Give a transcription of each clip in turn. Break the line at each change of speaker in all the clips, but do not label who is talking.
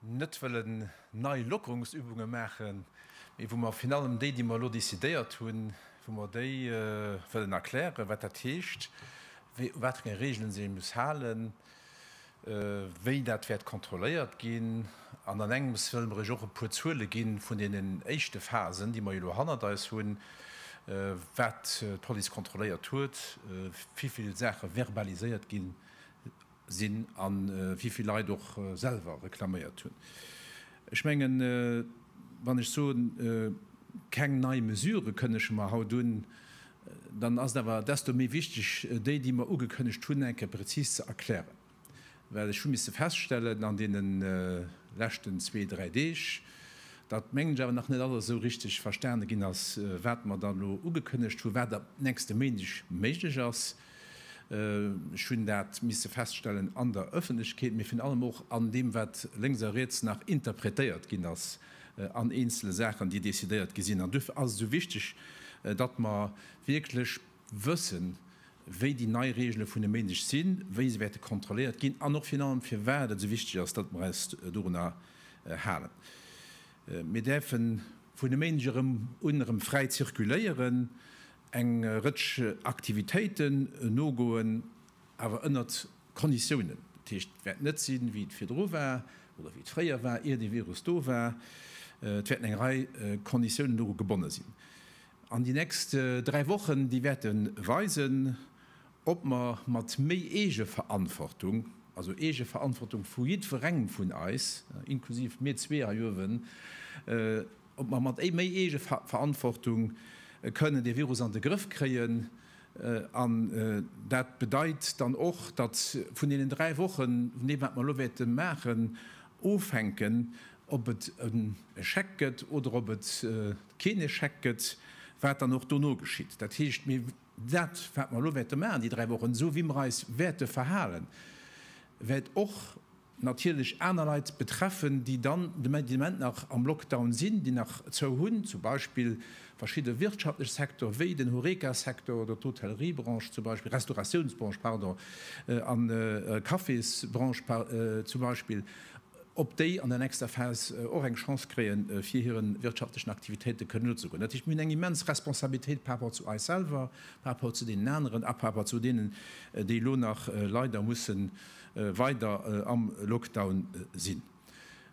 net wëllen nei Lockerungsübunge maachen, mee wou mer virun allem déi, déi mer elo decidéiert hunn, wou mer déi wëllen erklären, wat dat heescht, u wat fir enge Regeln se ee muss halen, wéi dat wäert kontrolléiert ginn. An an engems wëlle mer iech och e puer Zuele gi vun deenen éischte Phasen, déi mer jo elo hannert eis hunn, wat d'Police kontrolléiert huet, wivill Saache verbaliséiert gi sinn a wivill Leit och selwer reklaméiert hunn. Ech mengen, wann ech soen, keng nei Mesurë kënnege mer haut un, dann ass et awer desto méi wichteg, déi, déi mer ugekënnegt hunn, eng Kéier prezis ze erklären. Well ech hu misse feststellen an deene leschten zwee, dräi Deeg, datt, mengen ech, awer nach net alles esou richteg verstane ginn ass, wat mer da elo ugekënnegt hunn, wat ab nächste Méindeg méiglech ass. Ech hunn dat misse feststellen an der Ëffentlechkeet, mee virun allem och an deem, wat lénks a riets nach interpretéiert ginn ass an eenzele Saachen, déi decidéiert gi sinn. An duerfir ass et esou wichteg, datt mer wierklech wëssen, wéi déi nei Reegele vun e Méindeg sinn, wéi se wäerte kontrolléiert ginn an och virun allem, firwat et esou wichteg ass, datt mer eis dorunner halen. Mir däerfe vun e Méindeg erëm un erëm fräi zirkuléieren. Eng Rëtsch Aktivitéiten nogoen, awer ënnert Konditiounen. Dat heescht, et wäert net sinn, wéi et virdru war oder wéi et fréier war, ier de Virus do war. Et wäerten eng Rei Konditiounen doru gebonne sinn. An déi nächst dräi Wochen, déi wäerte weisen, ob mer mat méi Eegeverantwortung, also Eegeverantwortung vu jiddwerengem vun eis, inklusiv mir zwee hei uewen, ob mer mat méi Eegeverantwortung kënnen dee Virus an de Grëff kréien. An dat bedeit dann och, datt vun deenen dräi Wochen, vun deem wat mer elo wäerte maachen, ofhänken, ob et en Échec gëtt oder ob et keen Échec gëtt, wat dann och dono geschitt. Dat heescht, mir, dat wat mer elo wäerte maachen déi dräi Wochen, esou wéi mer eis wäerte verhalen, wäert och natierlech aner Leit betreffen, déi dann de Moment nach am Lockdown sinn, déi nach zou hunn, zum Beispill verschidde wirtschaftlech Secteur wéi den Horeca-Secteur oder d'Hotelleriebranche, zum Beispill Restauratiounsbranche, pardon, an Cafésbranche zum Beispill, ob déi an der nächster Phas och eng Chance kréie fir hire wirtschaftlechen Aktivitéite kënnen nozegoen. Dat heescht, mir hunn eng immens Responsabilitéit par rapport zu eis selwer, par rapport zu deenen aneren a par rapport zu deenen, déi elo nach leider mussen weider am Lockdown sinn.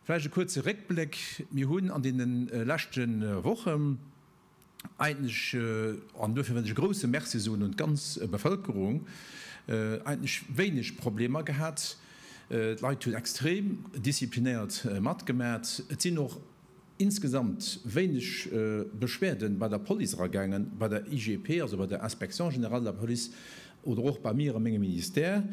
Vläicht e kuerze Réckbléck, Mir hunn an deene leschte Woche eigentlech, an duerfir wëll ech e grouse Merci soen un d'ganz Bevëlkerung, eigentlech wéineg Problemer gehat. D'Leit hunn extrem disziplinéiert matgemat. Et sinn och insgesamt wéineg Beschwerde bei der Police eragaangen, bei der IGP, also bei der Inspection générale de la police, oder och bei mir a mengem Ministère,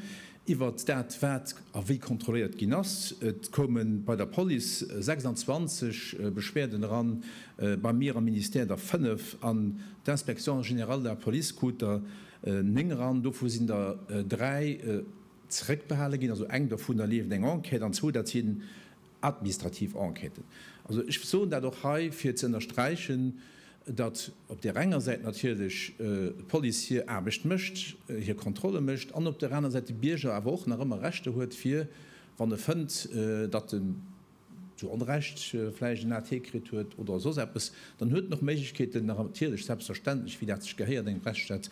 iwwert dat, wat a wéi kontrolléiert ginn ass. Et koume bei der Police 26 Beschwerden eran, bei mir am Ministère der 5, an d'Inspection générale de la police krut der 9 eran. Dovu sinn der 3 zeréckbehale ginn, also eng dovunner leeft eng Enquête, an zwou, dat si Administrativ Enquêten. Also ech soen dat och hei, fir ze ënnersträichen, datt op där enger Säit natierlech d'Police hir Aarbecht mécht, hir Kontrolle mécht, an op där aner Säit de Bierger awer och nach ëmmer Rechter huet, fir, wann e fënnt, datt en zu Onrecht vläicht en AT kritt huet oder soss eppes, dann huet en och Méiglechkeeten, natierlech, selbstverständlech, wéi dat sech gehéiert engem Rechtsstaat,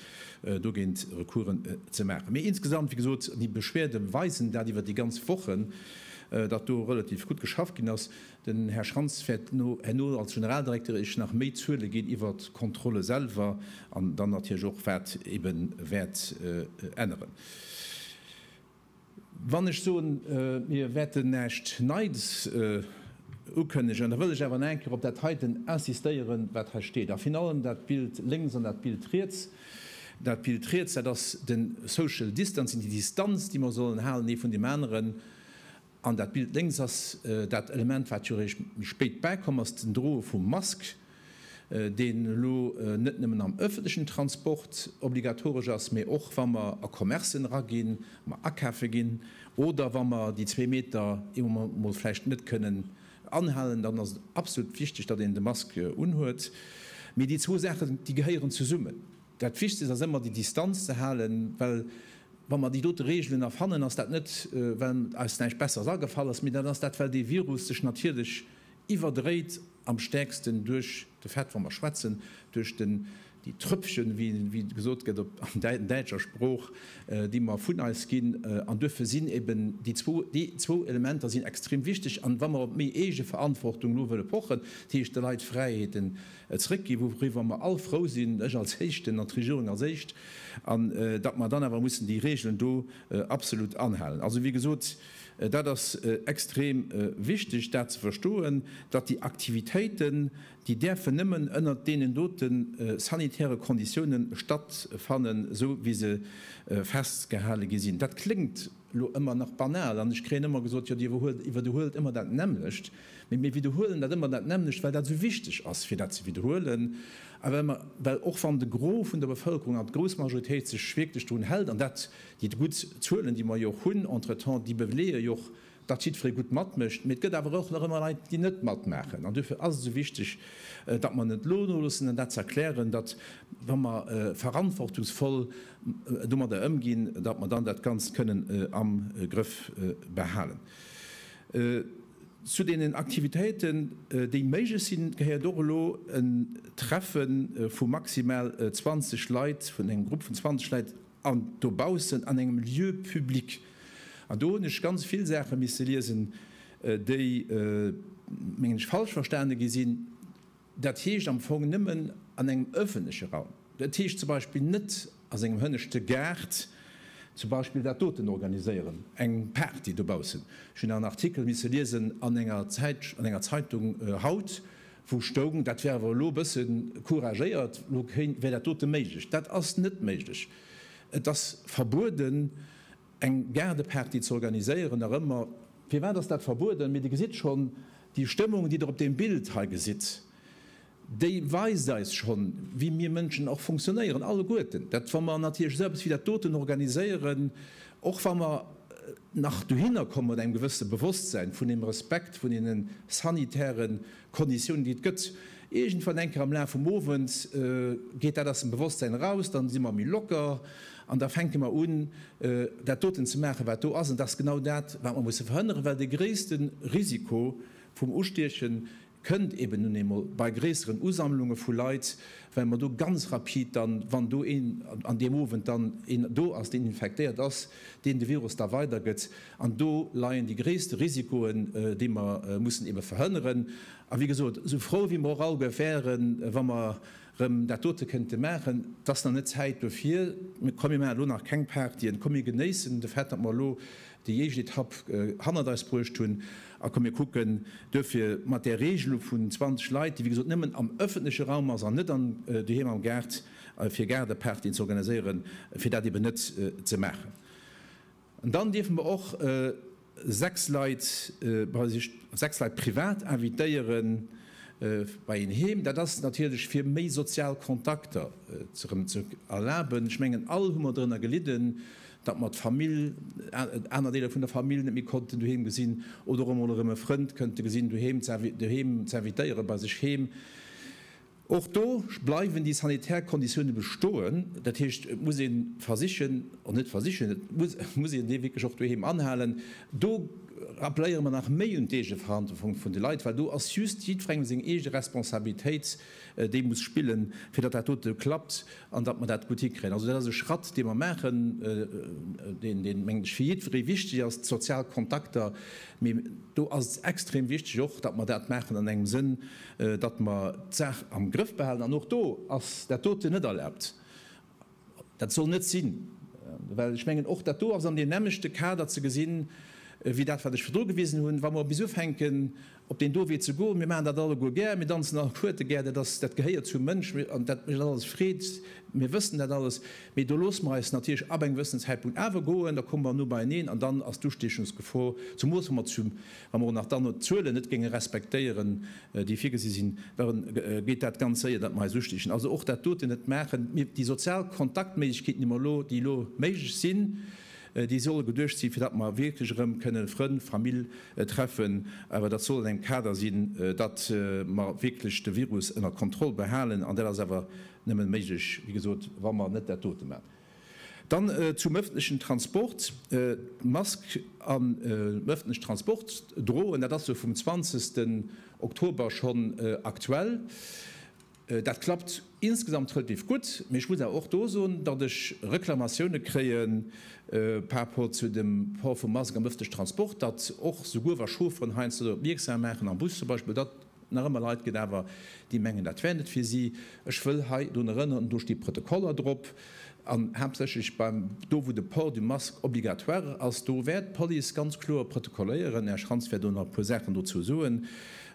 dogéint Recoursen ze maachen. Mee insgesamt, wéi gesot, déi Beschwerde weisen dat iwwer déi ganz Wochen, datt do relativ gutt geschafft ginn ass. Den Här Schrantz wäert herno als Generaldirekter Iech nach méi Zuele ginn iwwert d'Kontrolle selwer an dann natierlech och, wat eebe wäert änneren. Wann ech soen, mir wäerten näischt Neits ukënnegen, da wëll ech awer nach eng Kéier op dat heiten insistéieren, wat hei steet, a virun allem dat Bild lénks an dat Bild riets. Dat Bild riets, dat ass de Social Distancing, déi Distanz, déi mer sollen halen ee vun deem aneren. An dat Bild lénks ass dat Element, wat jo réischt méi spéit bäikomm ass, den Droe vum Mask, deen elo net nëmmen am ëffentlechen Transport obligatoresch ass, mee och wa mer a Commercen eraginn, wa mer akafe ginn oder wa mer déi zwee Meter ee Moment emol vläicht net kënnen anhalen, dann ass et absolut wichteg, datt een de Mask unhuet. Mee déi zwou Saachen, déi gehéieren zesummen. Dat Wichtegst ass ëmmer déi Distanz ze halen, well wa mer déi dote Reegelen erfannen, ass dat net well eis näischt Besseres agefall ass, mee dat ass dat well dee Virus sech natierlech iwwerdréit, am stäerksten duerch de Fait, wa mer schwätzen, duerch den, déi Trëpfchen, wéi gesot gëtt op däitscher Sprooch, déi mer vun eis ginn. An duerfir sinn eben déi zwou, déi zwou Elementer sinn extrem wichteg. An wa mer op méi Eegeverantwortung elo wëlle pochen, dat heescht de Leit Fräiheeten e zréck ginn, wouriwwer mer all frou sinn, ech als Éischten an d'Regierung als Éischt, an datt mer dann awer mussen déi Regeln do absolut anhalen. Also, wéi gesot, dat ass extrem wichteg, dat ze verstoen, datt déi Aktivitéiten, déi däerfen nëmmen ënnert deenen dote sanitäre Konditiounen stattfannen, esou wéi se festgehale gi sinn. Dat kléngt. elo ëmmer nach banal an ech kréien ëmmer gesot, jo Dir iwwerdehuelt ëmmer dat nämmlecht. Mee mir widerhuelen dat ëmmer dat nämmlecht, well dat esou wichteg ass fir dat ze widerhuelen a well mer, well och wann de Gros vun der Bevëlkerung an d'grouss Majoritéit sech wierklech drun hält an dat, déi gutt Zuelen, déi mer jo och hunn entretemps, déi beleeë jo och, datt jiddweree gutt matmécht. Mee et gëtt awer och nach ëmmer Leit, déi net matmaachen an duerfir ass et esou wichteg, datt mer net elo noloossen an dat ze erklären, datt wa mer verantwortungsvoll, domadder ëmginn, datt mer dann dat Ganzt kënnen am Grëff behalen. Zu deenen Aktivitéiten, déi méiglech sinn, gehéiert och elo en Treffe vu maximal 20 Leit, vun engem Grupp vun 20 Leit an dobaussen an engem Lieu public. An do hunn ech ganz vill Saache misse liesen, déi, mengen ech, falsch verstane gi sinn. Dat heescht am Fong nëmmen an engem ëffentleche Raum. Et heescht zum Beispill net a sengem hënneschte Gaart zum Beispill dat doten organiséieren, eng Party dobaussen. Ech hunn en Artikel misse liesen an enger Zäitsch an enger Zeitung haut, wou stoung, dat wär awer elo e bësse couragéiert, elo kéint wär dat dote méiglech. Dat ass net méiglech. Et ass verbueden. Eng Gaardeparty ze organiséieren, nach ëmmer. Firwat ass dat verbueden? Mee Dir gesitt schonn, déi Stëmmung, déi Der op deem Bild hei gesitt, déi weist eis schonn, wéi mir Mënschen och funktionéieren, alleguerten. Dat, wa mer natierlech esou eppes wéi dat doten organiséieren, och wa mer nach dohinner komme mat engem gewësse Bewosstsein vun deem Respekt vun deene sanitäre Konditiounen, déi et gëtt, iergendwann eng Kéier am Laf vum Owend geet dat aus dem Bewosstsein eraus, dann si mer méi locker An da fänke mer un, dat doten ze maachen, wat do ass. An dat ass genau dat, wat mer musse verhënneren, well de gréisste Risiko vum Ustieche kënnt eben nun eemol bei gréisseren Usammlunge vu Leit, well mer do ganz rapid dann, wann do een an deem Owend dann een do ass, deen infektéiert ass, deen de Virus da weidergëtt. An do leien déi gréisste Risikoen, déi mer mussen eebe verhënneren. A wéi gesot, esou frou wéi mer och all Geu wären, wa mer, rëm dat dote kënnte maachen. Et ass nach net Zäit dofir. Komm mir maachen elo nach keng Partyen. Komm mir genéissen de Fait, datt mer elo déi éischt Etapp hannert eis bruecht hunn a komm mir kucken duerfir mat där Regelung vun 20 Leit, déi wéi gesot nëmmen am ëffentleche Raum ass an net an doheem am Gaart, fir Gaardepartyen ze organiséieren, fir dat eben net ze maachen. An dann dierfe mer och 6 Leit bei sech, 6 Leit privat invitéiere bei een heem. Dat ass natierlech fir méi sozial Kontakter erëm ze erlaben. Ech mengen all hu mer drënner gelidden, datt mer d'Famill, aner Deeler vun der Famill net méi konnten doheem gesinn oder och emol erëm e Frënd kënnte gesinn doheem ze invitéiere bei sech heem. Och do bleiwen déi sanitär Konditioune bestoen. Dat heescht, et muss ee versichen, oder net versichen, et muss een dee wierklech och doheem anhalen. Do rappeléiere mer nach méi un d'Eegeverantwortung vun de Leit, well do ass just jiddwerengem seng eege Responsabilitéit, déi e muss spillen, fir datt dat dote klappt an datt mer dat gutt hikréien. Also dat ass e Schratt, dee mer maachen, deen, mengen ech, fir jiddweree wichteg ass, d'sozial Kontakter. Mee do ass et extrem wichteg och, datt mer dat maachen an engem Sënn, datt mer d'Saach am Grëff behalen, an och do ass dat doten net erlaabt, dat soll net sinn, well ech mengen, och dat do ass an deem nämmlechte Kader ze gesinn, wéi dat wat ech virdru gewisen hunn, wa mer bis ufänken op deen do Wee ze goen. Mir maachen dat alleguer gär, mir danzen all d'Kuerte gär, dat ass, dat gehéiert zum Mënsch an dat mécht eis alles Freed, mir wëssen dat alles, mee do loosse mer eis natierlech ab engem gewëssenen Zäitpunkt awer goen, da komme mer no beieneen an dann ass d'Ustiechungsgefor, zemoos wa mer zu Wa mer och nach dann d'Zuelen net géinge respektéieren, déi virgesi sinn, da geet dat ganz séier, datt mer eis ustichen. Also och dat doten net maachen. Mir, déi sozial Kontaktméiglechkeeten, déi mer elo, déi elo méiglech sinn, déi solle geduecht sinn, fir datt mer wierklech erëm kënnen Frënn, Famill treffen. Awer dat soll an engem Kader sinn, datt mer wierklech de Virus ënner Kontroll behalen. An dat ass awer nëmme méiglech, wéi gesot, wa mer net dat dote maachen. Dann zum öffentlichen Transport, D'Mask am öffentlichen Transport droen, dat ass jo vum 20. Oktober schonn aktuell. Dat klappt insgesamt relativ gutt, mee ech muss awer och do soen, datt ech Reklamatioune kréie par rapport zu dem Port vum Mask am öffentlichen Transport, datt och souguer wa Chaufferen heiansdo dorop mierksam maachen, am Bus zum Beispill, datt Nach ëmmer Leit gëtt awer, déi mengen, dat wär net fir si. Ech wëll hei drun erënneren, do sti Protokoller drop, an haaptsächlech beim, do wou de Port du masque obligatoire ass, do wäert d'Police ganz kloer protokolléieren. Här Schrantz wäert elo nach e puer Saachen dozou soen.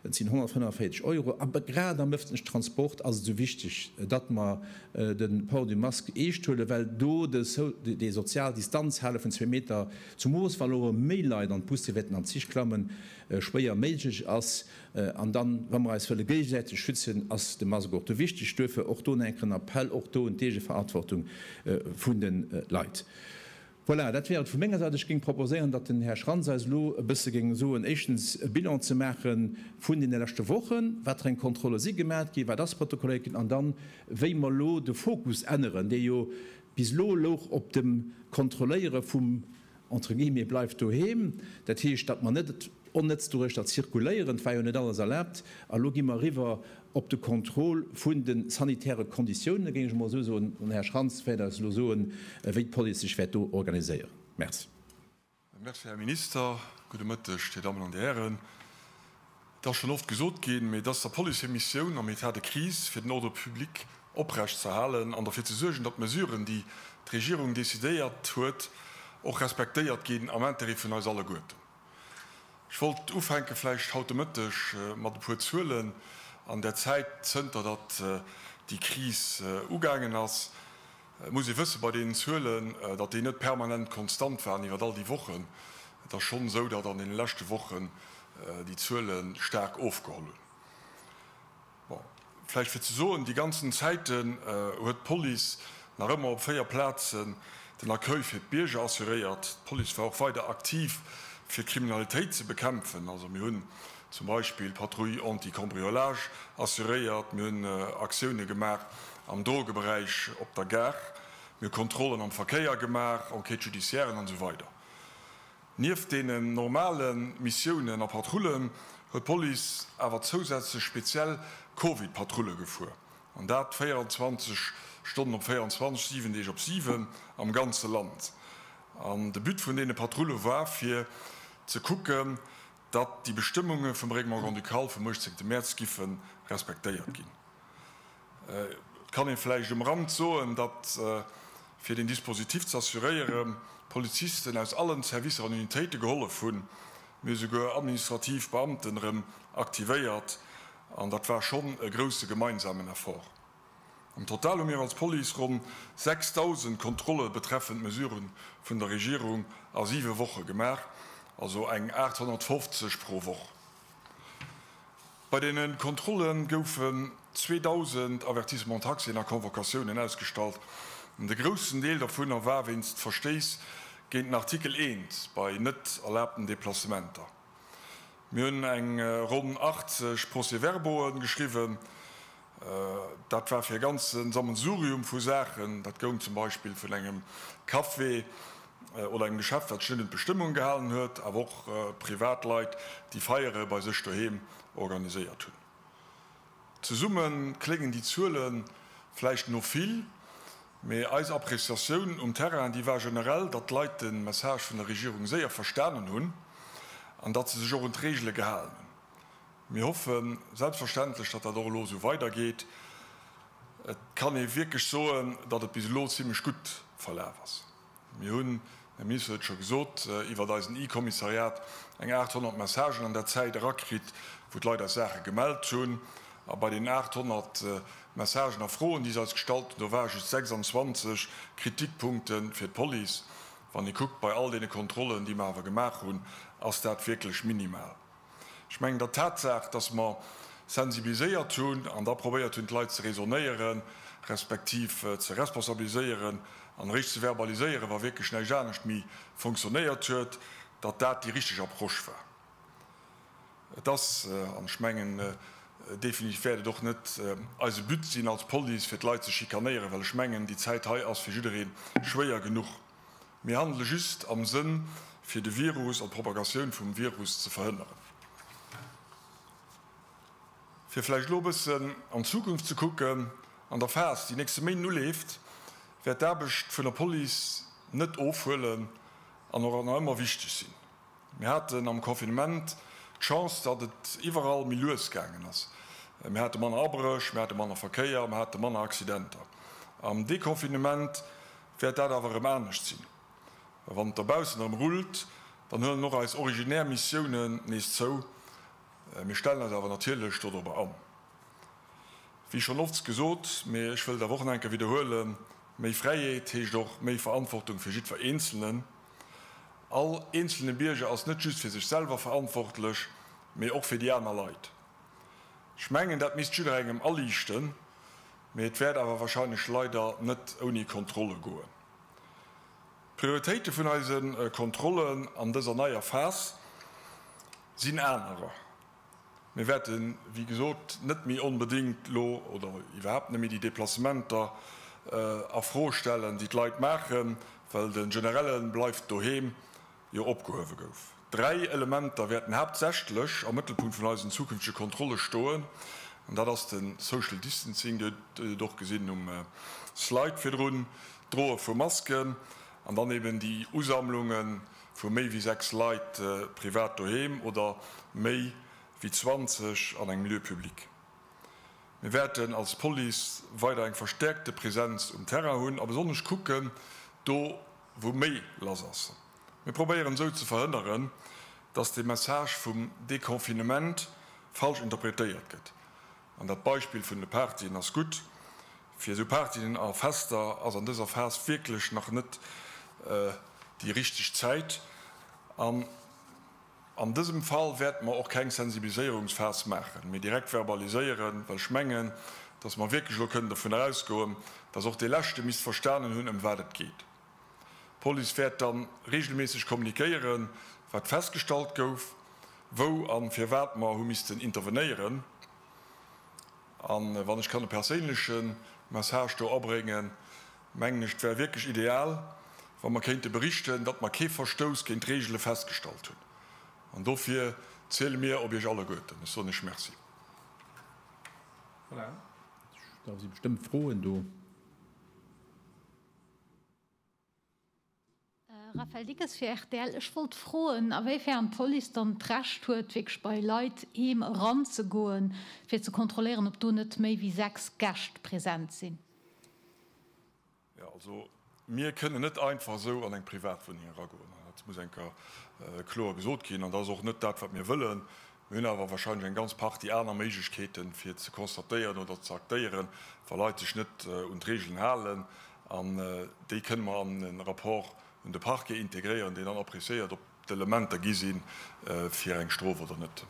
Et sinn 145 Euro. A grad am ëffentlechen Transport ass et esou wichteg, datt mer de Port du masque eescht huelen, well do déi sozial Distanz hale vun zwee Meter, zumools wa elo méi Leit an d'Busse wäerten an d'Zich klammen, schwéier méiglech ass. An dann, wa mer eis wëlle géigesäiteg schützen, ass de Mask och do wichteg. Duerfir och do en enken Appell, och do un d'Eegeverantwortung vun de Leit. Voilà, dat wär et vu menger Säit. Ech géing proposéieren, datt den Här Schrantz eis elo e bësse géing soen, éischtens e Bilan ze maache vun deene leschte Wochen, wat fir eng Kontrolle si gemat ginn, wat ass protokolléiert ginn, an dann, wéi mer elo de Fokus änneren, dee jo bis elo louch op dem Kontrolléiere vum entre guillemets, bleift doheem. Dat heescht, datt mer net onnëtz doduerch da zirkuléieren, et war jo net alles erlaabt. A elo gi mer eriwwer op de Contrôle vun de sanitäre Konditiounen, géing ech emol esou soen. Den Här Schrantz wäert eis elo soen, wéi d'Police sech wäert do organiséieren. Merci. Merci,
Här Minister. Gudde Mëtteg, Dir Dammen an Dir Hären. Et ass schonn oft gesot ginn, mee et ass der Police hir Missioun am État de crise, fir den Ordre public oprecht ze erhalen an derfir ze suergen, datt d'Mesuren, déi d'Regierung decidéiert huet, och respektéiert ginn am Intérêt vun eis alleguerten. Ech wollt ufänke vläicht haut de Mëtteg mat e puer Zuelen an der Zäit, zënter datt déi Kris ugaangen ass. Et muss ee wësse bei deenen Zuelen, datt déi net permanent konstant waren iwwer all déi Wochen. Et ass schonn esou, datt an deene leschte Wochen déi Zuele staark ofgeholl hunn. Bon, vläicht fir ze soen, déi ganzen Zäiten huet d'Police nach ëmmer op véier Plazen den Accueil fir d'Bierger assuréiert. D'Police war och weider aktiv, fir d'Kriminalitéit ze bekämpfen. Also mir hunn Zum Beispill d'Patrouille anti-cambriolage assuréiert. Mir hunn Aktioune gemaach am Drogeberäich op der Gare. Mir hu Kontrollen am Verkéier gemaach, Enquêtes judiciairen an esou weider. Nieft deenen normale Missiounen a Patrullen huet d'Police awer zousätzlech speziell Covid-Patrulle gefuer. An dat 24 Stonnen op 24, 7 Deeg op 7 am ganze Land. An de But vun deene Patrulle war fir ze kucken, datt déi Bestëmmunge vum Règlement grand-ducal vum 18 Mäerz giffe respektéiert ginn. Et kann ee vläicht um Rand soen, datt, fir deen Dispositif ze assuréieren, Polizisten aus allen Servicer an Unitéite gehollef hunn, mee esouguer administrativ Beamten erëm aktivéiert, an dat war schonn e grousse gemeinsamen Effort. Am Total hu mir als Police ronn 6.000 Kontrolle betreffend Mesurë vun der Regierung a siwe Woche gemaach, also eng 850 pro Woch. Bei deene Kontrolle goufen 2.000 Avertissements-Taxien a Convocatiounen ausgestallt. De groussen Deel dovunner war wéinst Verstéiss géint den Artikel 1 bei net erlaabten Deplacementer. Mir hunn eng ronn 80 Procès-verbauen geschriwwen Dat war fir e ganze Sammelsurium vu Saachen. Dat goung zum Beispill vun engem Café oder engem Geschäft, wat sech net un d'Bestëmmungen gehalen huet, awer och Privatleit, déi Feiere bei sech doheem organiséiert hunn. Zesumme kléngen déi Zuele vläicht no vill, mee eis Appréciatioun um Terrain, déi war generell, datt d'Leit de Message vun der Regierung séier verstanen hunn an datt se sech och un d'Reegele gehalen hunn. Mir hoffe selbstverständlech, datt dat och elo esou weidergeet. Et kann ee wierklech soen, datt et bis elo zimlech gutt verlaf ass. Mir hunn, den Minister huet et scho gesot, iwwert eisen e-Kommissariat eng 800 Messagen an där Zäit erakritt, wou d'Leit eis Saache gemellt hunn. A bei deenen 800 Messagen a Froen, déi se eis gestallt hunn, do ware just 26 Kritikpunkte fir d'Police. Wann ee kuckt, bei all deene Kontrollen, déi mer awer gemaach hunn, ass dat wierklech minimal. Ech mengen, datt d'Tatsaach, datt mer sensibiliséiert hunn an da probéiert hunn, d'Leit ze raisonnéieren, respektiv ze responsabiliséieren an eréischt ze verbaliséieren, wa wierklech näischt anescht méi fonctionnéiert huet, datt dat déi richteg Approche war. Et ass, an ech mengen definitiv wäert et och net eise But sinn als Police, fir d'Leit ze schikanéieren, well ech mengen, déi Zäit hei ass fir jidderee schwéier genuch. Mir handele just am Sënn, fir de Virus an d'Propagatioun vum Virus ze verhënneren. Fir vläicht elo e bëssen an d'Zukunft ze kucken, An der Phas, déi nächste Méint uleeft, wäert d'Aarbecht vun der Police net ofhuelen an och nach ëmmer wichteg sinn. Mir haten am Confinement d'Chance, datt et iwwerall méi lues gaangen ass. Mir hate manner Abréch, mir hate manner Verkéier, mir hate manner Accidenter. Am Deconfinement Wäert dat awer erëm anescht sinn, wann et dobaussen erëm rullt, dann huelen och eis originär Missiounen nees zou. Mir stellen eis awer natierlech dodrobber an. Wéi schonn ofts gesot, mee ech wëll et awer och nach eng Kéier widderhuelen, méi Fräiheet heescht och méi Verantwortung fir jiddwer Eenzelnen. All eenzelne Bierger ass net just fir sech selwer verantwortlech, mee och fir déi aner Leit. Ech mengen, dat misst jidderengem aliichten. Mee et wäert awer wahrscheinlech leider net ouni Kontrolle goen. D'Prioritéite vun eise Kontrollen an dëser neier Phas sinn anerer. Mir wäerte wéi gesot net méi onbedéngt elo oder iwwerhaapt net méi déi Deplacementer a Fro stellen, déi d'Leit maachen, well de Generelle bleift doheem Jo opgehuewe gouf. Dräi Elementer wäerten haaptsächlech am Mëttelpunkt vun eisen zukünftege Kontrolle stoen, an dat ass de Social Distancing, Dir hutt et och gesinn um Slide virdrun, d'Droe vu Masken an dann eben déi Usammlunge vu méi wéi sechs Leit privat doheem oder méi wéi 20 an engem Lieu public. Mir wäerten als Police weider eng verstäerkte Präsenz um Terrain hunn a besonnesch kucken, do wou méi lass ass. Mir probéieren esou ze verhënneren, datt de Message vum Deconfinement falsch interpretéiert gëtt. An dat Beispill vun de Partyen ass gutt. Fir esou Partyen a Fester ass an dëser Phas wierklech nach net déi richteg Zäit. An dësem Fall wäerte mer och keng Sensibiliséierungsphas maachen, mee direkt verbaliséieren, well ech mengen, dass mer wierklech elo kënnen dovunner ausgoen, dass och dee Leschte misst verstanen hunn, ëm wat et geet. D'Police wäert da reegelméisseg kommunikéieren, wat festgestallt gouf, wou a firwat mer hu missten intervenéieren. An wann ech kann e perséinleche Message do abréngen, mengen ech, et wär wierklech ideal, wa mer kéinte berichten, datt mer kee Verstouss géint d'Reegele festgestallt hunn. An dofir ziele mir op Iech alleguerten. Ech soen Iech Merci.
Voilà, da si bestëmmt Froen do.
Raphaël Dickes fir rtl, Ech wollt froen, a wéi fern d'Police dann d'Recht huet, wierklech bei Leit heem eranzegoen, fir ze kontrolléieren, ob do net méi wéi sechs Gäscht present sinn?
Jo, also mir kënnen net einfach esou an eng Privatwunneng eragoen. Dat muss enker kloer gesot ginn. An dat ass och net dat, wat mir wëllen. Mir hunn awer wahrscheinlech eng ganz Partie aner Méiglechkeeten, fir ze constatéieren oder ze aktéieren, wa Leit sech net un d'Regeln halen. An déi kënne mer an e Rapport un de Parquet integréieren, deen dann appréciéiert, ob d'Elementer gi si fir eng Strof oder net.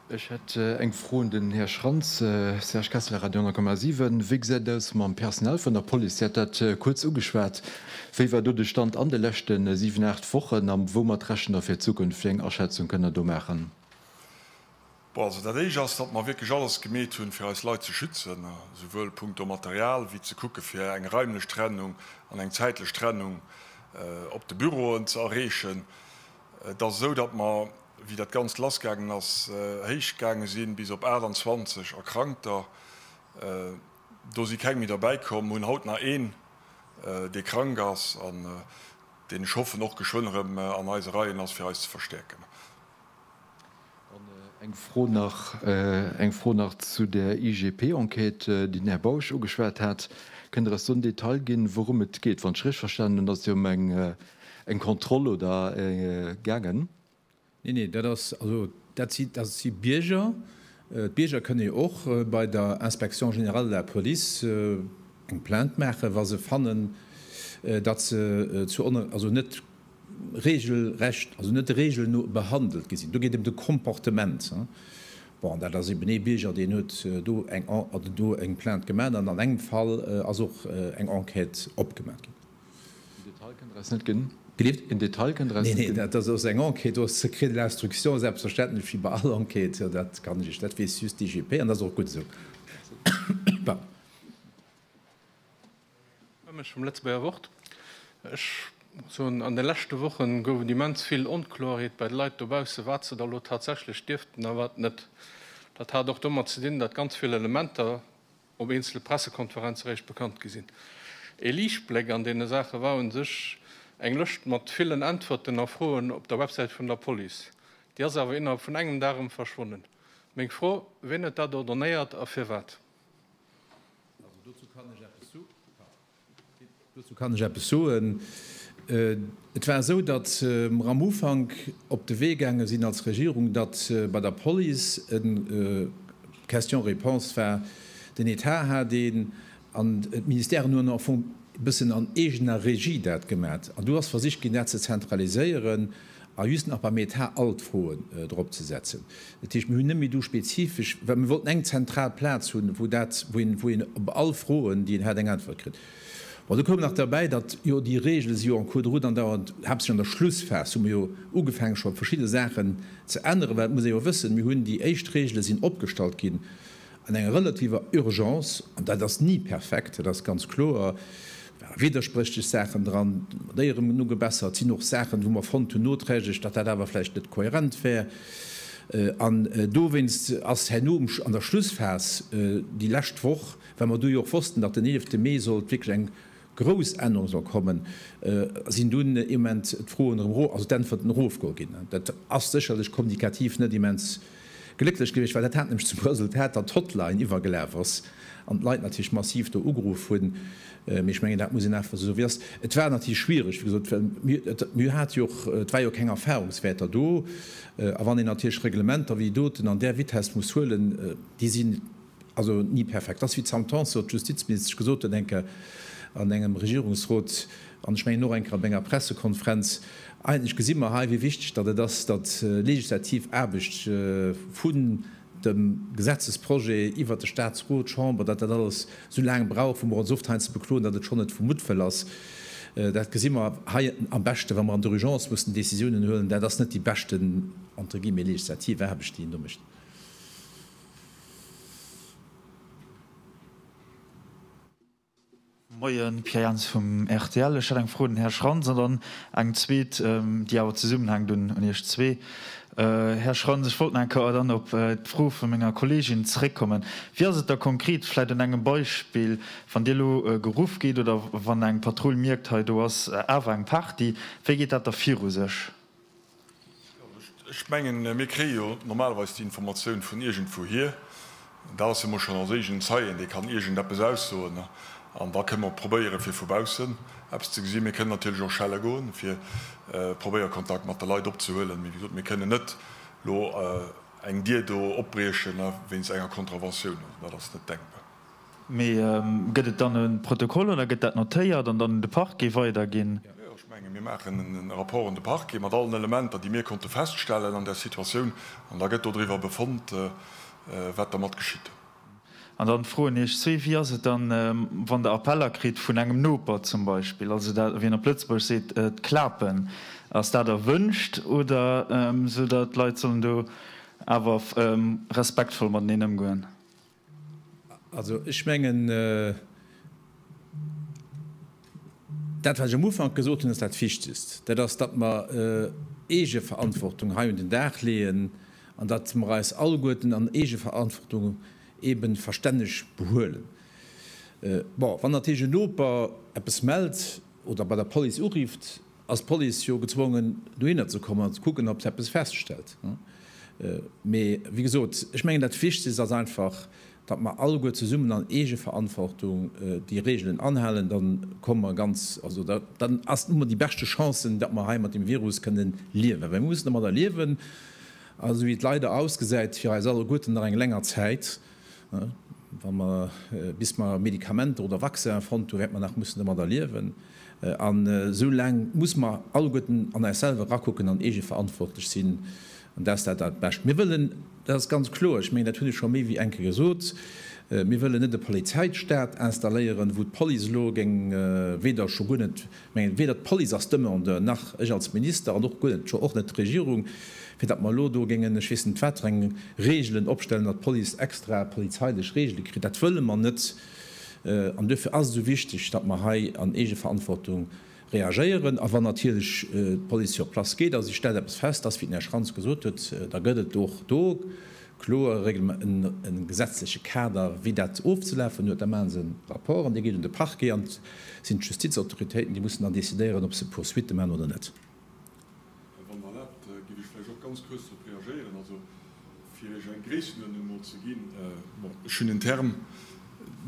Ech hätt eng Fro un den Här Schrantz. Serge Kessler, Radio 10,7. Wéi gesäit et aus mam Personal vun der Police? Dir hat dat kuerz ugeschwat. Wéi war do de Stand an de leschte siwen, aacht Wochen? A woumat rechent Der fir d'Zukunft? Wéi eng Aschätzung kënnt Der do maachen?
Bon, also dat Éischt ass, datt mer wierklech alles gemeet hunn, fir eis Leit ze schützen, souwuel punkto Material wéi ze kucke fir eng raimlech Trennung an eng zäitlech Trennung op de Büroen ze erreechen. Et ass esou, datt mer, wéi dat Ganzt lassgaangen ass, héich gaange sinn, bis op 28 Erkrankter. Do si keng méi derbäi komm. Mer hunn haut nach een, dee krank ass an deen, ech hoffen, och geschwënn erëm an eise Reien ass, fir eis ze verstäerken. An
eng Fro nach, eng Fro nach zu där IGP-Enquête, déi den Här Bausch ugeschwat hat. Kënnt Der eis do en Detail ginn, wourëm et geet? Wann ech richteg verstanen hunn, ass et jo ëm eng, eng Kontroll, oder, gaangen. Nee, nee,
dat ass, also dat si, dat si Bierger. D'Bierger kënne jo och bei der Inspection générale de la police eng Plainte maachen, wa se fannen, datt se zu, also net regelrecht, also net de Reegelen no, behandelt gi sinn. Do geet et ëm de Comportement. Bon, an dat ass eeben ee Bierger, deen huet do eng En, also do eng Plainte gemaach an an engem Fall ass och eng Enquête opgemaach ginn. En Detail kënnt der eis net ginn?
Gelift? En Detail kënnt der eis net ginn? Neen, neen, dat
ass eng Enquête, do ass Secret de l'instruction, selbstverständlech, wéi bei all Enquête. Dat kann ech Iech, dat weess just d'IGP an dat ass och gutt esou. Merci. Pardon.
Ech vum Lëtzebuerger Wort. Ech soen, an de leschte Woche gouf et immens vill Onkloerheet bei de Leit dobausse, wat se da lo tatsächlech dierften a wat net. Dat hat och domat ze dinn, datt ganz vill Elementer op eenzele Pressekonferenze réischt bekannt gi sinn. Ee Liichtbléck an deene Saache war un sech eng Lëscht mat villen Äntwerten a Froen op der Websäit vun der Police. Déi ass awer innerhalb vun engem Dag erëm verschwonnen. Meng Fro, Wien huet dat ordonnéiert a firwat?
Dozou kann ech eppes soen. Et war esou, datt mer am Ufank op de Wee gaange sinn als Regierung, datt bei der Police e Question-réponse war, den Etat hat een an d'Ministèren hunn en bëssen an eegener Regie dat gemat. An do ass versicht ginn, dat ze zentraliséieren. A just nach beim Etat all d'Froen dropzesetzen. Dat heescht, mir hunn net méi do spezifesch, well mir wollten eng zentral Plaz hunn, wou dat, wou een op all Froen, déi een hat, eng Äntwert kritt. Bon, do koum nach derbäi, datt jo déi Regele si jo en cours de route an dauern, haaptsächlech an der Schlussphas hu mir jo ugefaange scho verschidde Saachen ze änneren, well et muss ee jo wëssen, mir hunn déi éischt Regele sinn opgestallt ginn, An enger relativer Urgence, an dat ass ni perfekt, dat ass ganz kloer, ware widderspréchlech Saachen dran, mat éierem Genuch gebessert, et sinn och Saachen, wou mer fonnt hunn noträglech, datt dat awer vläicht net kohärent wär. An dowéinst ass herno an der Schlussphas, déi lescht Woch, well mer du jo och wossten, datt den eelefte Mee sollt wierklech eng grouss Ännerunge soll kommen, sinn dunn immens d'Froen erëm ero-, also d'Äntwerten erofgo ginn. Dat ass sécherlech kommunikativ net immens glécklech gewiescht, well dat hat nämlech zum Resultat, datt d'Hotline iwwergelaf ass an d'Leit natierlech massiv do ugeruff hunn. Mee ech mengen, dat muss een einfach esou soen, wéi et ass. Et war natierlech schwierig, wéi gesot, well mir hat jo och, et war jo keng Erfahrungswäerter do. A wann een natierlech Reglementer wéi doten an där Vitess muss huelen, déi sinn, Also ni perfekt ass, wéi d'Sam Tanson, d'Justizministesch, gesot huet enker an engem Regierungsrot an ech mengen och enker op enger Pressekonferenz. Eigentlech gesi mer hei, wéi wichteg datt et ass, datt legislativ Aarbecht vun dem Gesetzesprojet iwwert de Statsrot, d'Chamber, datt dat alles esou laang brauch, wou mer ons oft hei eins ze bekloen, datt et schonn net vu Muttwëll ass. Dat gesi mer hei am beschten, wa mer an der Urgence mussen Décisiounen huelen. Dat ass net déi beschten, entre guillemets, legislativ Aarbecht, déi een do mécht.
Moien, Pierre Jans vum rtl. Ech hätt eng Fro un den Här Schrantz an dann eng zweet, déi awer zesummenhänkt, un Iech zwee. Här Schrantz, ech wollt nach eng Kéier dann op d'Fro vu menger Kolleegin zréckkommen. Wéi ass et da konkret, vläicht un engem Beispill, wann Dir elo geruff gitt oder wann eng Patrull mierkt, hei do ass awer eng Party, wéi geet dat da viru sech? Ech
mengen, mir kréie jo normalerweis déi Informatioun vun iergendwouhir. Dat ass jo mol schonn eis eegenen Zeien, dee kann iergendeppes aussoen. An da kënne mer probéieren, fir vu baussen eppes ze gesinn. Mir kënnen natierlech och schelle goen, fir probéieren, Kontakt mat de Leit opzehuelen. Mee wéi gesot, mir kënnen net elo eng Dier do opbriechen wéinst enger Contraventioun. Also dat ass net denkbar. Mee gëtt et dann
e Protokoll oder gëtt dat notéiert an dann un de Parquet weiderginn? Jo, ech menge mir
maachen e Rapport un de Parquet mat allen Elementer, déi mir konnte feststellen an där Situatioun, an da gëtt dodriwwer befonnt, wat dermat geschitt. An dann
froen ech zwee, Wéi ass et dann, wann Der Appeller kritt vun engem Noper zum Beispill? Also dat, wéi een op Lëtzebuergesch seet, d'Klapen. Ass dat erwünscht oder esou, datt d'Leit sollen do awer respektvoll mateneen ëmgoen?
Also ech mengen, dat wat ech am Ufank gesot hunn ass dat Wichtegst, dat ass, datt mer Eegeverantwortung hei un den Dag leeën an datt mer eis alleguerten an Eegeverantwortung eebe verstänneg behuelen. Bon, wann natierlech en Noper eppes mellt oder bei der Police urifft, ass d'Police jo gezwongen dohinner ze kommen an ze kucken ob se eppes feststellt. Mee wéi gesot, ech mengen dat Wichtegst ass einfach, datt mer alleguer zesummen an Eegeverantwortung déi Reegelen anhalen, dann komme mer ganz, also dann ass hu mer déi beschte Chancen, datt mer hei mat dem Virus kënnen liewen, well mir mussen domadder liewen, esou wéi et leider ausgesäit, fir eis alleguerten nach eng länger Zäit. Wa mer, bis mer Medikamenter oder Vaccinen fonnt hunn, wäerte mer nach mussen domadder liewen. An esou laang muss mer alleguerten an eis selwer erakucken an eegeverantwortlech sinn. An dat ass dat Allerbescht. Mir wëllen, dat ass ganz kloer, ech mengen, dat hunn ech scho méi wéi eng Kéier gesot, mir wëllen net e Polizeistat installéieren, wou d'Police elo géing weder, scho guer net mengen, weder d'Police als Demandeur, nach ech als Minister an och guer net, scho och net d'Regierung, fir datt mer elo do géingen ech weess net wat fir eng Regeln opstellen, datt d'Police extra polizeilech Regele kritt. Dat wëlle mer net. An duerfir ass et esou wichteg, datt mer hei an Eegeverantwortung reagéieren. A wann natierlech d'Police sur place geet a si stellt eppes fest, dass, wéi den Här Schrantz gesot huet, da gëtt et och do kloer e gesetzleche Kader, wéi dat ofzelafen huet. Da maache se e Rapport an dee geet un de Parquet an et sinn d'Justizautoritéiten, déi mussen dann decidéieren, ob se Poursuitte maachen oder net. Här Van der Lart, giff ech vläicht och ganz kuerz drop reagéieren. Also
fir Iech eng Gréissenuerdnung emol ze ginn, bon, ech hunn den Term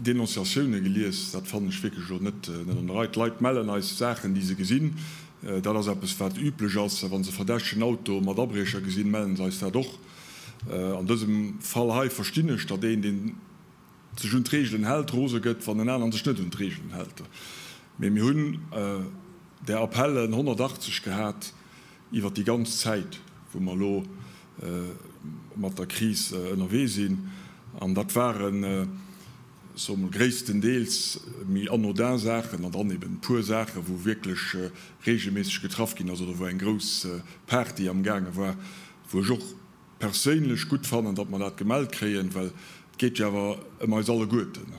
Denonciatiounen gelies, dat fannen ech wierklech elo net an der Rei. D'Leit mellen eis Saachen, déi se gesinn, dat ass eppes wat üblech ass. Wa se verdächtegen Auto mat Abriecher gesinn, mellen se eis dat och. An dësem Fall hei verstinn ech, datt een, deen sech un d'Reegelen hält, rose gëtt, wann en aneren sech net un d'Reegelen hält. Mee mir hunn där Appellen 180 gehat iwwert déi ganz Zäit, wou mer elo mat der Kris ënnerwee sinn. An dat ware, soe mol, gréisstendeels méi anodin Saachen an dann eben e puer Saachen, wou wierklech reegelméisseg getraff ginn ass oder wou eng grouss Party amgaange war, wou ech och perséinlech gutt fannen, datt mer dat gemellt kréien, well et geet jo awer ëm eis alleguerten.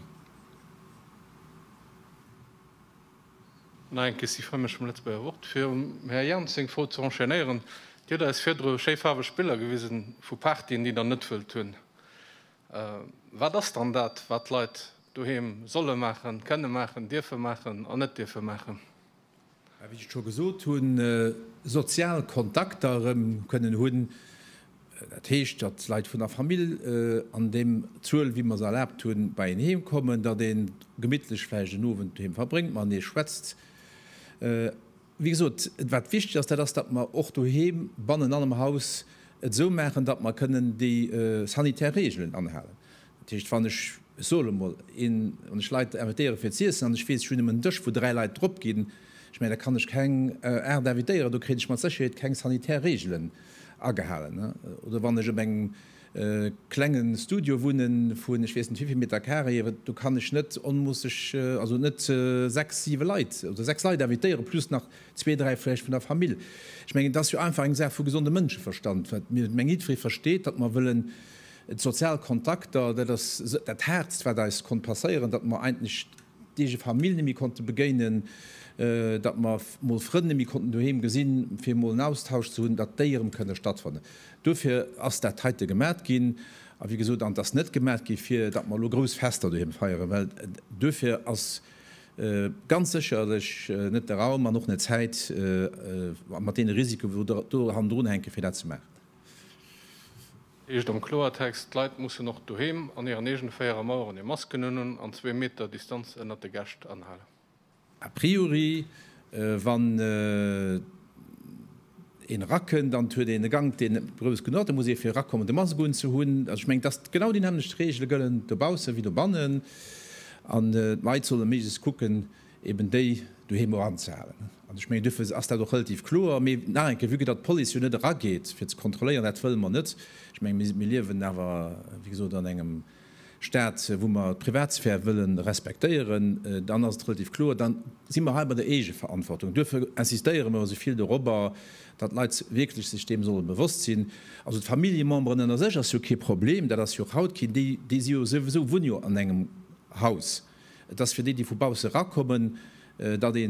Nach eng Question vum Mme Lëtzebuerger Wort, fir um Här Jans seng Fro ze enchaînéieren. Dir hutt eis virdru schéi faarweg Biller gewisen vu Partyen, déi Der net wëllt hunn. Wat ass dann dat, wat d'Leit doheem solle maachen, kënne maachen, dierfe maachen an net dierfe maachen? Wéi ech
et scho gesot hunn, sozial Kontakter erëm kënnen hunn, dat heescht, datt Leit vun der Famill an deem Zuel, wéi mer se erlaabt hunn, bei een heem kommen, datt ee gemittlech vläicht en Owend doheem verbréngt, matenee schwätzt. Wéi gesot, wat wichteg ass, dat ass, datt mer och doheem bannen an am Haus et esou maachen, datt mer kënnen déi sanitär Reegelen anhalen. Dat heescht, wann ech, ech soe lo mol, een, wann ech Leit invitéiere fir z'iessen an ech weess, ech hunn nëmmen en Dësch, wou dräi Leit drop ginn, ech mengen, da kann ech keng aacht invitéieren, do kréien ech mat Sécherheet keng sanitär Reegelen agehalen. Oder wann ech op engem klenge Studio wunnen, vun ech weess net wivill Meter carré, do kann ech net onmoosseg, also net sechs, siwe Leit oder sechs Leit invitéieren, plus nach zwee, dräi vläicht vun der Famill. Ech mengen, et ass jo einfach eng Saach vu gesondem Mënscheverstand, wat, mengen, jiddweree versteet, datt mer wëllen, D'sozial Kontakter, dat ass dat Haartst, wat eis konnt passéieren, datt mer eigentlech d'eege Famill net méi konnte begéinen, datt mer mol Frënn net méi konnten doheem gesinn, fir emol en Austausch ze hunn, datt déi erëm kënne stattfannen. Dofir ass dat heite gemat ginn. A wéi gesot, an et ass net gemat gi fir datt mer elo grouss Fester doheem feieren, well duerfir ass ganz sécherlech net de Raum an och net d'Zäit, mat deene Risiken, wou do hannendrun hänken, fir dat ze maachen.
Heescht am Kloertext, d'Leit mussen och doheem an hiren eegene véiere Maueren hir Masken un hunn an zwee Meter Distanz ënnert de Gäscht anhalen. A priori,
wann een erakënnt an et huet een e Gank, deen net grouss genuch ass, da muss ee fir erakommen de Mask unzehunn. Also ech mengen, dass genau déi nämmlecht Reegele gëllen dobausse wéi dobannen an d'Leit solle méiglechst kucken, eben déi doheem och anzehalen. An ech mengen, duerfir ass dat och relativ kloer. Mee nach eng Kéier, vue que datt d'Police jo net erageet, fir ze kontrolléieren, dat wëlle mer net. Ech menge, mir liewen awer, wéi gesot, an engem Stat, wou mer d'Privatsphär wëlle respektéieren. Dann ass et relativ kloer, da si mer hei bei der Eegeverantwortung. Duerfir insistéiere mer esou vill dorobber, datt d'Leit wierklech sech deem solle bewosst sinn. Also d'Familljememberen ënner sech ass jo kee Problem, dat ass jo och haut keen. Déi si jo souwisou, wunne jo an engem Haus. Et ass fir déi, déi vu bausse erakommen, datt ee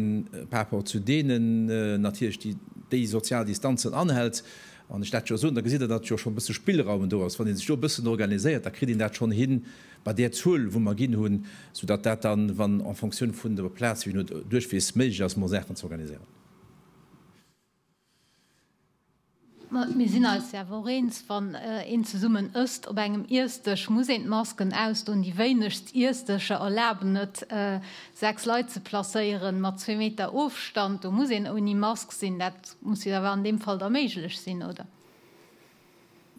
par rapport zu deenen natierlech déi sozial Distanzen anhält. Wann ech dat jo soen, da gesitt Der, datt jo schonn e bësse Spillraum do ass. Wann ee sech do e bëssen organiséiert, da kritt een dat schonn hin bei där Zuel, wou mer ginn hunn, soudatt dat dann, wann en fonction vun der Plaz, wéi een duerchweess, méiglech ass, mer Saachen ze organiséieren.
Mir sinn eis jo awer och eens, wann een zesummen ësst op engem Iessdësch, muss een d'Masken ausdoen. Déi wéinegst Iessdëscher erlaben et, sechs Leit ze placéieren, mat zwee Meter Ofstand. Do muss een ouni Mask sinn. Dat muss jo awer an deem Fall da méiglech
sinn,
oder?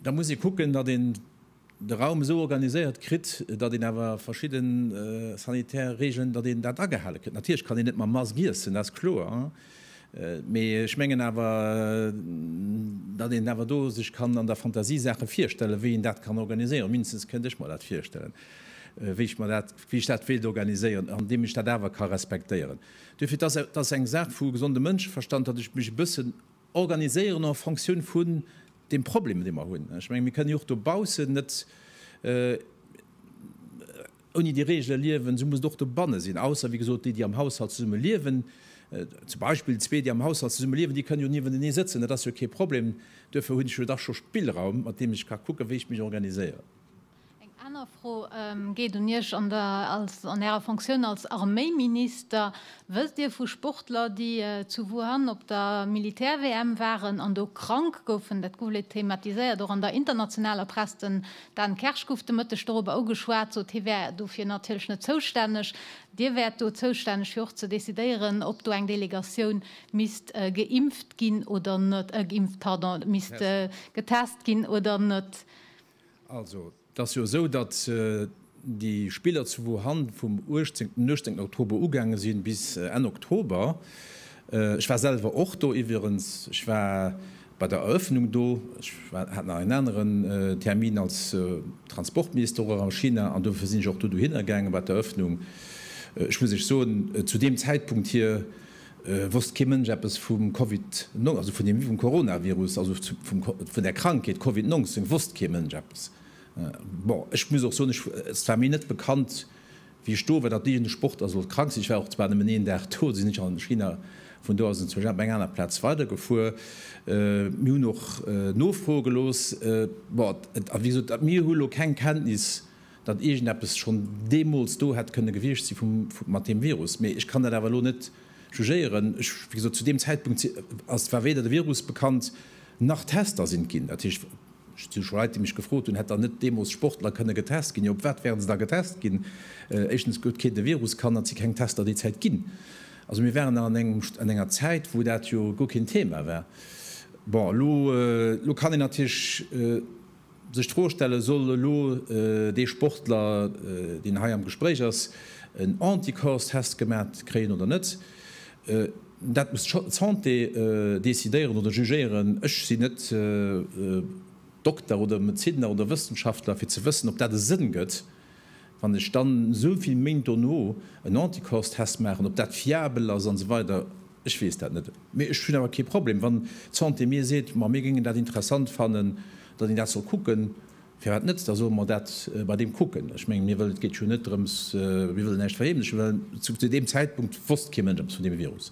Da
muss ee kucken,
datt
een de
Raum esou organiséiert kritt, datt een awer verschidde sanitär Regeln, datt een dat agehale kritt. Natierlech kann een net mam Mask iessen, dat ass kloer, mee ech mengen awer, datt een awer do sech kann an der Fantasie Saache virstellen, wéi een dat kann organiséieren. Mindestens kënnt ech mer dat virstellen, wéi ech mer dat, wéi ech dat wéilt organiséieren, andeem ech dat awer ka respektéieren. Duerfir, et ass eng Saach vu gesondem Mënscheverstand, datt ech mech e bëssen organiséieren en Fonctioun vun deem Problem, dee mer hunn. Ech mengen, mir kënnen jo och dobaussen net ouni déi Regele liewen, esou muss et och dobanne sinn, ausser, wéi gesot, déi, déi am Haushalt zesumme liewen. Zum Beispill zwee, déi am Haushalt zesumme liewen, déi kënnen jo niewentenee sëtzen, dat ass jo kee Problem. Duerfir hunn ech jo dach scho Spillraum, mat deem ech ka kucken, wéi ech mech organiséieren. Eng aner
Fro geet un Iech an Ärer Fonctioun als Arméiminister. Wësst Dir vu Sportler, déi zu Wuhan op der Militär-WM waren an do krank goufen? Dat gouf lech thematiséiert, och an der internationaler Press. Den Dan Kersch gouf de Mëtteg dorobber ugeschwat, sot, hie wär dofir natierlech net zoustänneg. Dir wäert do zoustänneg fir och ze decidéieren, ob do eng Delegatioun misst geimpft ginn oder net, geimpft, pardon, misst getest ginn oder net. Also,
et ass jo esou, datt déi Spiller zu Wuhan vum 18, den 18 Oktober ugaange sinn, bis Enn Oktober. Ech war selwer och do iwwerens. Ech war bei der Eröffnung do. Ech war, hat nach en aneren Termin als Transportminister och a China, an dofir sinn ech och do dohinner gaangen bei d'Eröffnung. Ech muss lech soen, zu deem Zäitpunkt hir, wosst kee Mënsch eppes vum Covid, also vun deem vum Coronavirus, also vun der Krankheet Covid 19 wosst kee Mënsch eppes. Bon, ech muss och soen, ech, et war mir net bekannt, wéi ech do war, datt iergend e Sportler sollt krank sinn. Ech war och zwar nëmmen een Dag do, sinn ech an China, vun do aus sinn ech zu Gênep, eng aner Plaz, weidergefuer. Mir hunn och nofroe gelooss. Bon, et, a wéi gesot, mir hu lo keng Kenntnis datt iergendeppes schonn deemools do hätt kënne gewiescht si mat deem Virus, mee ech kann dat awer elo net jugéieren. Ech, wéi gesot, zu deem Zäitpunkt ass, war weder de Virus bekannt, nach Tester sinn ginn. Dat heescht, ech hu scho Leit, déi mech gefrot hunn, hätt dann net deemools Sportler kënne getest ginn? Jo, op wat wäre se da getest ginn? Éischtens huet keen de Virus kannt an et si keng Tester déi Zäit ginn. Also mir waren nach an enger Zäit, wou dat jo guer keen Thema war. Bon, elo kann een natierlech Sech d'Fro stellen, Soll elo dee Sportler, deen hei am Gespréich ass, en Anticorps-Test gemaat kréien oder net? Dat muss d'Santé decidéieren oder jugéieren. Ech sinn net Dokter oder Medezinner oder Wëssenschaftler, fir ze wëssen, ob dat e Sënn gëtt. Wann ech dann esou vill Méint dono en Anticorps-Test maachen, ob dat fiabel ass an esou weider, ech weess dat net. Mee ech hunn awer kee Problem, wann d'Santé mir seet, ma mir géingen dat interessant fannen, datt een dat soll kucken, firwat net, da solle mer dat bei deem kucken. Ech mengen, mir wëllen, et geet jo net drëms, mir wëllen näischt verheemlechen, well zu deem Zäitpunkt wosst kee Mënsch eppes vun deem Virus.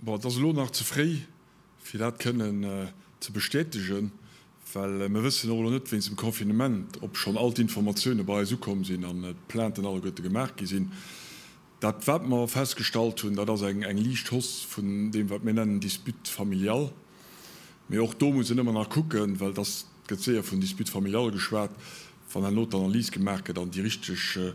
Bon, et ass elo nach ze fréi, fir dat kënnen ze bestätegen, well mir wëssen och elo net wéinst dem Confinement, ob schonn all d'Informatioune bei eis ukomm sinn an d'Plainten alleguerte gemaach gi sinn. Dat, wat mer festgestallt hunn, dat ass eng liicht Hausse vun deem, wat mir nennen Dispute familiale. Mee och do muss een ëmmer nach kucken, well et ass, et gëtt séier vun Dispute familiale geschwat, wann herno d'Analys gemaach gëtt an déi richteg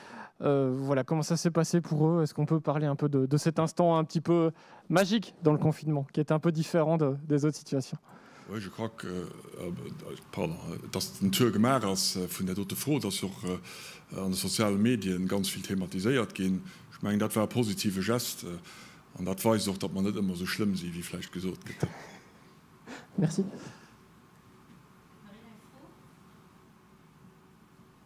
Euh, voilà comment ça s'est passé pour eux. Est-ce qu'on peut parler un peu de, de cet instant un petit peu magique dans le confinement, qui est un peu différent de, des autres situations Oui, je crois
que, euh, euh pardon, euh, dass den Tour gemacht ass euh, vun der dote Fro, dass jo och äh, an de sozialen Medien ganz viel thematiséiert ginn. Ich meng dat war positive Gest an dat weist och, dat man net ëmmer so schlimm si wie vläicht gesot gëtt. Merci.